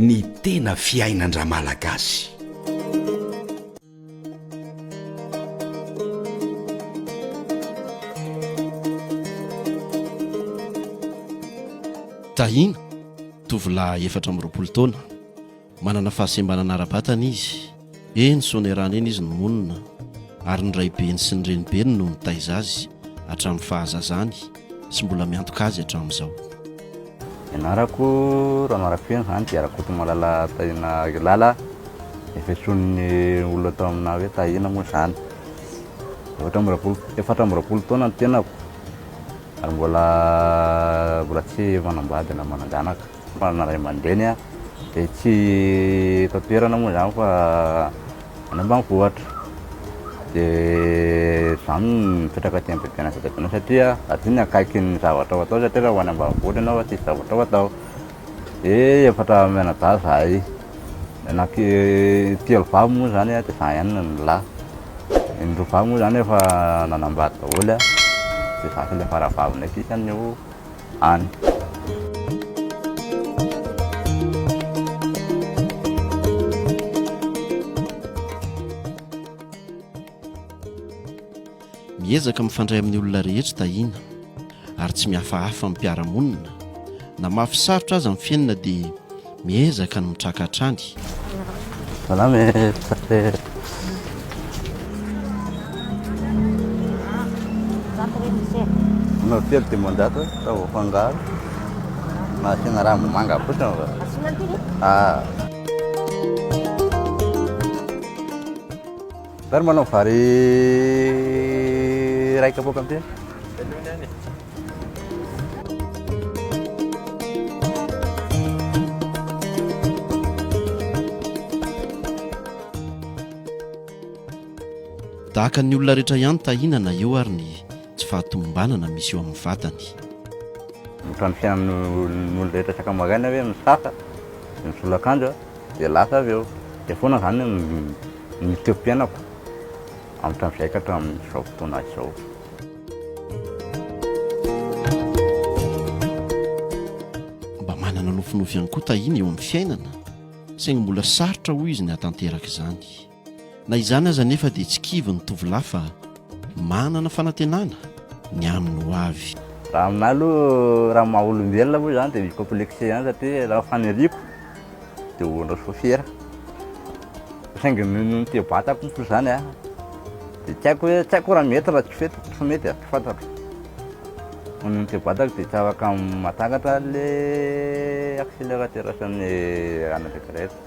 Ny tena fiainan-dRamalagasy. Tahina, tovolahy efatra amby roapolo taona. Manana fahasembanana ara-batana izy. Eny, soanerana eny izy no monina, ary ny raibeny sy ny renibeny no nitaiza azy hatramin'ny fahazazany sy mbola miantoka azy hatramin'izao. Ny anarako Ramarafeno, izany dia Rakotomalala Tahina Akelala, efa isonin'ny olona tao aminà hoe Tahina moa izany. Efatra amby roapolo, efatra amby roapolo taona ny tenako, ary mbola, mbola tsy manambady na manan-janaka. Manana ray aman-dreny aho dia tsy eto an-toerana moa izany fa any ambanivohitra. Dia izaho no mipetraka aty Ambohitrimanasa Tabenarina satria aty no akaiky ny zavatra ho atao satria raha ho any ambanivohitra ianao tsisy zavatra ho atao. Dia efatra mianadahy izahay, anaky- telo vavy moa izany dia izaho ihany no lahy. Ny roa vavy moa izany efa nanambady daholo dia izaho sisa faravaviny aty izany eo. any. Miezaka mifandray amin'ny olona rehetra Tahiana ary tsy mihafahafa amin'ny mpiara-monina. Na mafy sarotra aza ny fiainana dia Miezaka ny mitraka hatrany. Salam e Tsatser. Anao telo dimanjato sao voafangaro. Na asiana ranom-bomanga fotsiny va? Asiana antiny? Ah. Zary manao vary raika poaka ampy. Tahaka ny olona rehetra ihany tahinana eo ary ny tsy fahatomombanana misy eo amin'ny vatany. Ohatran'ny fiainan'ny olona rehetra sakamaraina hoe misasa, dia misolo akanjo dia lasa avy eo. Dia foana izany ny toeram-piainako hatramin'izay ka hatramin'izao fotoana izao. Mba manana nofinofy ihany koa Tahiana eo amin'ny fiainana, saingy mbola sarotra hoy izy ny hahatanteraka izany. Na izany aza anefa dia tsy kivy ny tovolahy fa manana fanantenana ny amin'ny ho avy. Raha aminahy aloha, raha maha olombelona aloha izany dia mi-complexer ihany satria raha faniriako, Dia ho anao sôfiera. Saingy noho ny toe-batako moa izany an, dia tsy haiko hoe, tsy haiko raha mety raha tsy fety, tsy mety an, tsy fantatro. Noho ny toe-batako dia tsy afaka mahatakatra an'ilay accélérateur sy ny anatrika rehetra.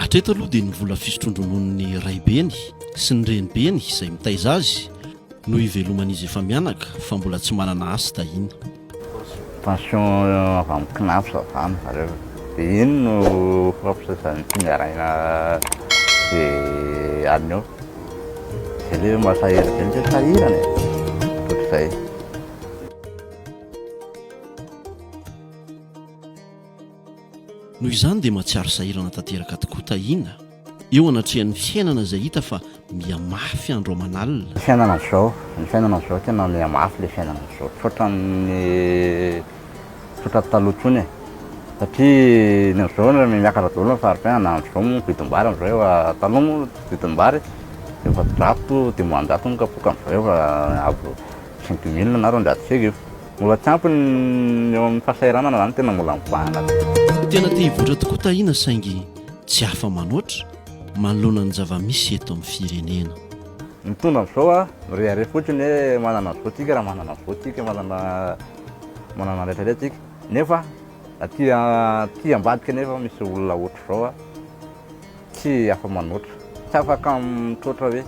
Hatreto aloha dia ny vola fisotroan-drononon'ny raibeny sy ny renibeny izay mitaiza azy no iveloman'izy efa mianaka fa mbola tsy manana asa tahina. Pension avy amin'ny Cnaps avy any zareo. Dia iny no fampizazan'ny mpiandraina izay alina eo. Dia ilay hoe mahasahy ela be ny hoe sahirana e. Ohatr'izay. Noho izany dia mahatsiaro sahirana tanteraka tokoa Tahiana. Eo anatrehan'ny fiainana izay hita fa miha mafy andro aman'alina. Fiainana izao, ny fiainana izao tena miha mafy ilay fiainana izao, tsy ohatran'ny tsy ohatran'ny taloha intsony e. Satria ny amin'izao raha miakatra daholo ny fari-piainana na amin'izao moa ny vidim-bary amin'izao efa, taloha moa ny vidim-bary efajato, dimanjato ny kapoaka amin'izao efa avo cinq mille na roanjato sy arivo. Mbola tsy ampy ny eo amin'ny fahasahiranana izany tena mbola mivahana. Tena te hivoatra tokoa Tahiana saingy. tsy afa-manoatra manoloana ny zava-misy eto amin'ny firenena. Mitondra amin'izao a, mirehareha fotsiny hoe manana an'izao tsika raha manana an'izao tsika, manana manana an'ilay tary tsika, nefa aty aty ambadika nefa misy olona ohatr'izao a, tsy afa-manoatra, tsy afaka mitroatra hoe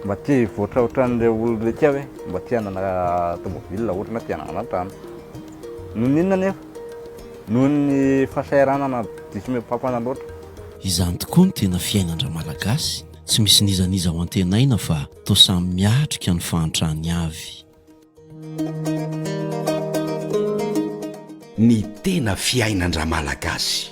mba te hivoatra ohatran'ilay olona aty aho hoe mba te hanana tômôbila ohatra na te hanana trano. Noho ny inona anefa? Noho ny fahasahiranana diso mihoa-pampana loatra. Izany tokoa ny tena fiainan-dRamalagasy, tsy misy n'iza n'iza ho antenaina fa toa samy miatrika ny fahantrany avy. Ny tena fiainan-dRamalagasy.